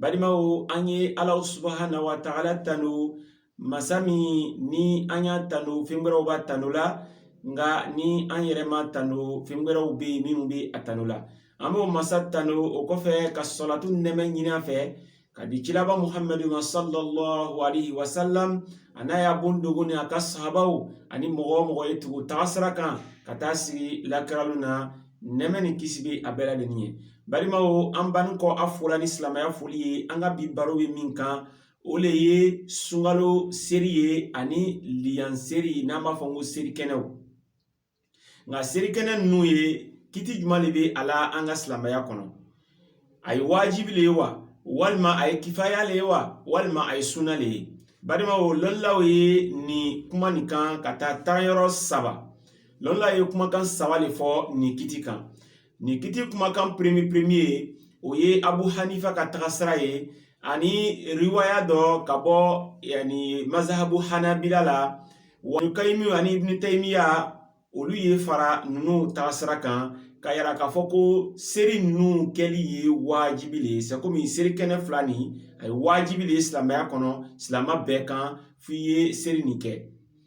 balimaw an ye ala subahana wa taala tanu masa min ni an y'a tanu fɛn wɛrɛw b'a tanu la nka ni an yɛrɛ m'a tanu fɛn wɛrɛw bɛ minnu bɛ a tanu la an b'o masa tanu o kɔfɛ ka sɔlatu nɛmɛ ɲini a fɛ k'a di cilaba muhamadu ma sallallahu alaihi wa sallam a n'a ya bon dogo ni a ka sahabaw ani mɔgɔ o mɔgɔ ye tugu tagasira kan ka taa sigi lakira lon na nɛmɛ ni kisi bɛ a bɛɛ ladɛnnin ye balimaw an banni kɔ a fo la ni silamɛya foli ye an ka bi baro bɛ min kan o le ye sunkalo seri ye ani liyan seri n'an b'a fɔ ko seri kɛnɛw nka seri kɛnɛ ninnu ye kiti juman le bɛ a la an ka silamɛya kɔnɔ a ye wajibi le ye wa walima a ye kifaya le ye wa walima a ye sunna le ye balimaw lɔnnilaw ye nin kuma nin kan ka taa taayɔrɔ saba lɔnnilaw ye kumakan saba le fɔ nin kiti kan nin kiti kumakan premier premier o ye abu hanifa ka tagasira ye ani riwaya dɔ ka bɔ yani mazahabu hanabila la walukayimi ani ibnu tayimiya olu ye fara ninnu tagasira kan k'a yira k'a fɔ ko seri ninnu kɛli ye waajibi le ye c'est comme seri kɛnɛ fila nin a ye waajibi le ye silamɛya kɔnɔ silamɛ bɛɛ kan f'i ye seri nin kɛ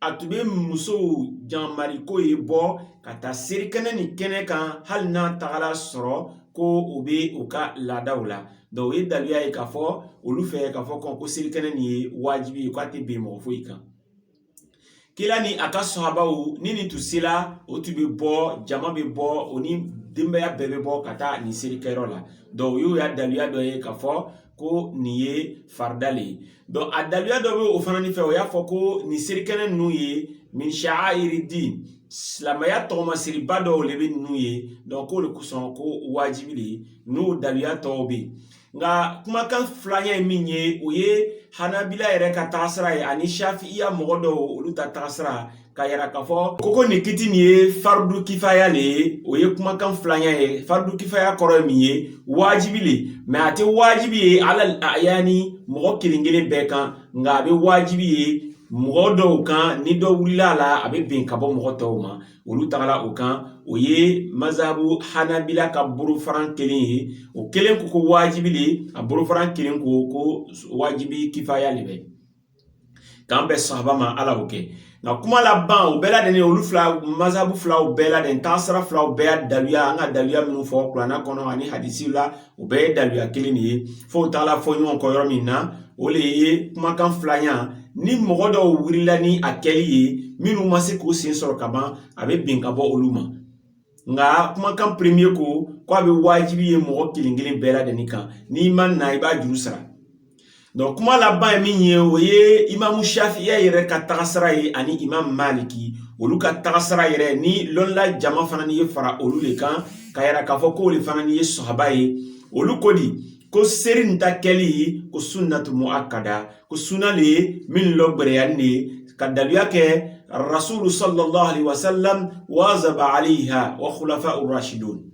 a tun bɛ musow jamari k'o ye bɔ ka taa serikɛnɛ nin kɛnɛ kan hali n'a tagala sɔrɔ ko o bɛ o ka laadaw la donc o ye daluya ye k'a fɔ olu fɛ k'a fɔ ko serikɛnɛ nin ye wajibi ye k'a tɛ bin mɔgɔ foyi kan kila ni a ka sahabaw ni nin tun sela o tun bɛ bɔ jama bɛ bɔ o ni denbaya bɛɛ bɛ bɔ ka taa nin serikɛyɔrɔ la donc o y'o ya daluya dɔ ye k'a fɔ ko nin ye farida le donc a daluya dɔ bɛ o fana ni fɛ o y'a fɔ ko nin serikɛnɛ ninnu ye min sha'airi din silamɛya tɔgɔmasiriba dɔw le bɛ ninnu ye donc k'o le kosɔn ko wajibi le n'o daluya tɔw bɛ nka kumakan filanya ye min ye o ye hanabila yɛrɛ ka taasira ye ani shafiya mɔgɔ dɔw olu ta taasira k'a yira k'a fɔ ko ko nin kiti nin ye faridu kifaya le ye o ye kumakan filanya ye faridu kifaya kɔrɔ ye min ye wajibi le mais a tɛ wajibi ye alal ayani mɔgɔ kelen kelen bɛɛ kan nka a bɛ wajibi ye mɔgɔ dɔw kan ni dɔ wulila a la a bɛ bin ka bɔ mɔgɔ tɔw ma olu tagala o kan o ye mazabu hanabila ka bolofaran kelen ye o kelen ko ko wajibi le a bolofaran kelen ko ko wajibi kifaya le bɛ k'an bɛn sawaba ma ala y'o kɛ nka kuma laban o bɛɛ ladɛnnin olu fila mazabu filaw bɛɛ ladɛnnin taasira filaw bɛɛ ya daluya an ka daluya minnu fɔ kuranna kɔnɔ ani hadisi la o bɛɛ ye daluya kelen le ye fo o taala fɔ ɲɔgɔn kɔ yɔrɔ min na o le ye kumakan filanya ni mɔgɔ dɔw wulila ni a kɛli ye minnu ma se k'u sen sɔrɔ ka ban a bɛ bin ka bɔ olu ma nka kumakan premier ko ko a bɛ wajibi ye mɔgɔ kelen kelen bɛɛ ladɛnnin kan n'i ma na i b'a juru sara donc kuma laban ye min ye o ye imamu shafiya yɛrɛ ka tagasira ye ani imam maliki olu ka tagasira yɛrɛ ni lɔnla jama fana ni ye fara olu le kan k'a yira k'a fɔ k'o le fana ni ye sawaba ye olu ko di ko seri nin ta kɛli ko sunnatu muakkada ko suna le min lɔgwɛrɛyanin ne ka daluya kɛ rasulu sallallahu alaihi wasallam wazaba alaiha wa khulafa urashidun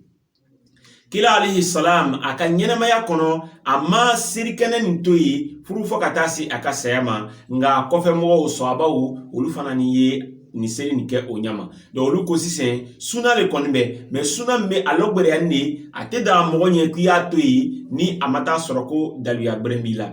kila alaihi salam a ka ɲɛnamaya kɔnɔ a ma serikɛnɛ nin to yen furu fɔ ka taa se a ka saya ma nka a kɔfɛ mɔgɔw sɔabaw olu fana ni ye nin seri nin kɛ o ɲa ma donc olu ko sisan suna le kɔni bɛ mais suna min bɛ a lɔgwɛrɛyanin ne a tɛ daga mɔgɔ ɲɛ k'i y'a to yen ni a ma taa sɔrɔ ko daluya bɛrɛ b'i la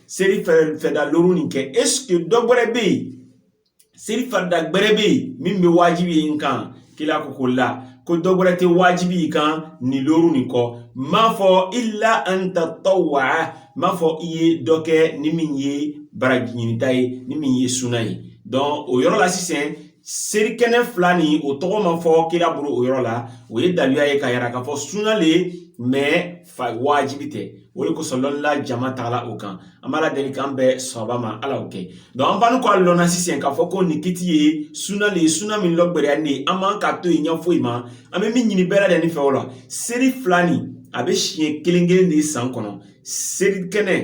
seri farida loru nin kɛ est-ce que dɔ gbɛrɛ bɛ yen seri farida gbɛrɛ bɛ yen min bɛ wajibi ye n kan kila ko ko la ko dɔ gbɛrɛ tɛ wajibi y'i kan nin loru nin kɔ m'a fɔ illa an tatawwa m'a fɔ i ye dɔ kɛ ni min ye baraji ɲinita ye ni min ye suna ye donc o yɔrɔ la sisan serikɛnɛ fila nin o tɔgɔ ma fɔ kila bolo o yɔrɔ la o ye daluya ye k'a yira k'a fɔ suna le mais fa wajibi tɛ o le kosɔn lɔnnila jama tagala o kan an b'ala deli k'an bɛn sawaba ma ala o kɛ donc an banin kɔ a lɔn na sisan k'a fɔ ko nin kiti ye suna le ye suna min lɔgbɛrɛyanin ne an man k'a to yen ɲa foyi ma an bɛ min ɲini bɛɛ lajɛlen fɛ o la seri fila nin a bɛ siɲɛ kelen kelen le san kɔnɔ seri kɛnɛ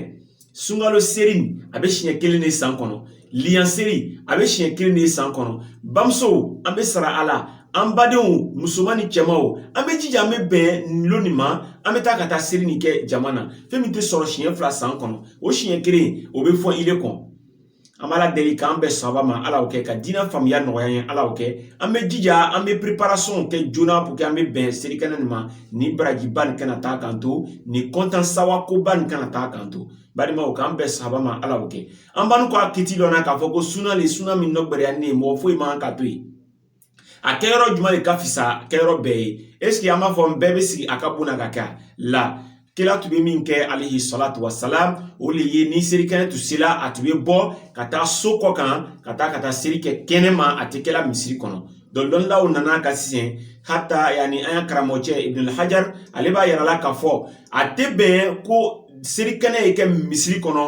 sunkalo seri a bɛ siɲɛ kelen de san kɔnɔ liyan seri a bɛ siɲɛ kelen de san kɔnɔ bamusow an bɛ sara a la an badenw musoman ni cɛmanw an bɛ jija an bɛ bɛn lon nin ma an bɛ taa ka taa seri nin kɛ jama na fɛn min tɛ sɔrɔ siɲɛ fila san kɔnɔ o siɲɛ kelen o bɛ fɔn ile kɔ an b'ala deli k'an bɛn sawaba ma ala y'o kɛ ka diinɛ faamuya nɔgɔya ye ala y'o kɛ an bɛ jija an bɛ préparationw kɛ joona pour que an bɛ bɛn serikɛnɛ nin ma nin barajiba nin kana taa k'an to nin kɔntan sawa koba nin kana taa k'an to balimaw k'an bɛn sawaba ma ala y'o kɛ an banin kɔ a kiti lɔn na k'a fɔ ko suna le suna min lɔgbɛrɛyanin ne ye mɔgɔ foyi man k'a to yen a kɛ yɔrɔ jumɛn de ka fisa kɛ yɔrɔ bɛɛ ye est-ce que an b'a fɔ bɛɛ bɛ sigi a ka bon na k'a kɛ la kila tun bɛ min kɛ alihi salatu wasalam o le ye ni serikɛnɛ tun sela a tun bɛ bɔ ka taa so kɔ kan ka taa ka taa seri kɛ kɛnɛ ma a tɛ kɛla misiri kɔnɔ donc lɔnnaw nana ka sisan hata yaani an ya karamɔgɔcɛ ibnul hajar ale b'a yira la k'a fɔ a tɛ bɛn ko serikɛnɛ ye kɛ misiri kɔnɔ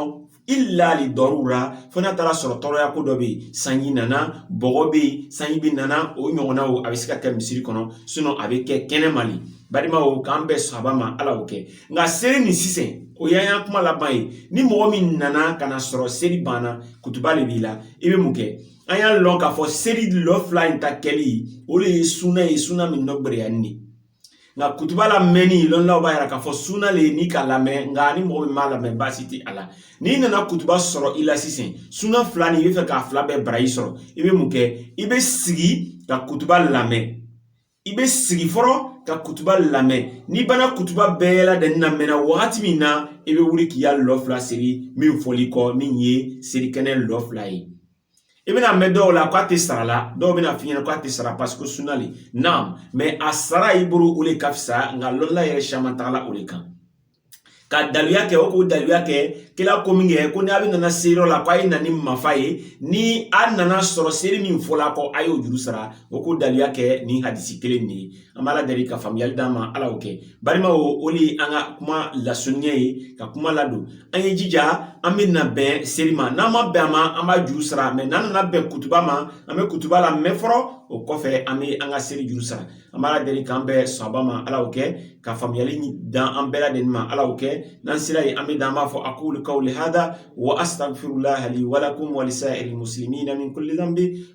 illa li darura fo n'a taara sɔrɔ tɔɔrɔya ko dɔ bɛ yen sanji nana bɔgɔ bɛ yen sanji bɛ nana o ɲɔgɔnnaw a bɛ se ka kɛ misiri kɔnɔ sinɔn a bɛ kɛ kɛnɛ ma le balimaw k'an bɛɛ saba ma ala y'o kɛ nka seli nin sisan o y'an ya kuma laban ye ni mɔgɔ min nana ka na sɔrɔ seli banna kutuba le b'i la i bɛ mun kɛ an y'a lɔn k'a fɔ seli lɔ fila in ta kɛli o le ye suna ye suna min nɔ gbɛlɛyanin ne nka kutuba lamɛnni lɔnnilaw b'a yira k'a fɔ suna le n'i k'a lamɛn nka ni mɔgɔ min m'a lamɛn baasi tɛ a la n'i nana kutuba sɔrɔ i la sisan suna fila nin i bɛ fɛ k'a fila bɛɛ baraji sɔrɔ i bɛ mun kɛ i bɛ sigi ka kutuba lamɛn i bɛ sigi fɔlɔ ka kutuba lamɛn n'i banna kutuba bɛɛ ladɛn namɛn na wagati min na i bɛ wuli k'i ya lɔ fila seli min fɔl'i kɔ min ye selikɛnɛ lɔ fila ye i bɛn'a mɛn dɔw la k'a tɛ sara la dɔw bɛna f'i ɲɛna k'a tɛ sara paseke suna le naam mɛ a sara i bolo o le ka fisa nka lɔnla yɛrɛ caman tagala o le kan ka daliluya kɛ o k'o daliluya kɛ kila ko min kɛ ko n'a bɛ nana seliyɔrɔ la k'a ye na ni mafa ye ni a nana sɔrɔ seri min fɔla kɔ a y'o juru sara o k'o daliluya kɛ ni hadisi kelen nin ye an b'ala deli ka faamuyali d'an ma ala y'o kɛ balimaw o le ye an ka kuma lasurunya ye ka kuma ladon an ye jija an bɛ na bɛn seli ma n'an ma bɛn a ma an b'a juru sara mɛ n'an nana bɛn kutuba ma an bɛ kutuba lamɛn fɔlɔ o kɔfɛ an bɛ an ka seli juru sara an b'ala deli k'an bɛɛ sɔnba ma ala y'o kɛ ka faamuyali d'an bɛɛ lajɛlen ma ala y'o kɛ n'an sera yen an bɛ dan an b'a fɔ akulu kawuli hada wa asitagfirulaha li walakum walisayirili muslimina min kulli dhanbi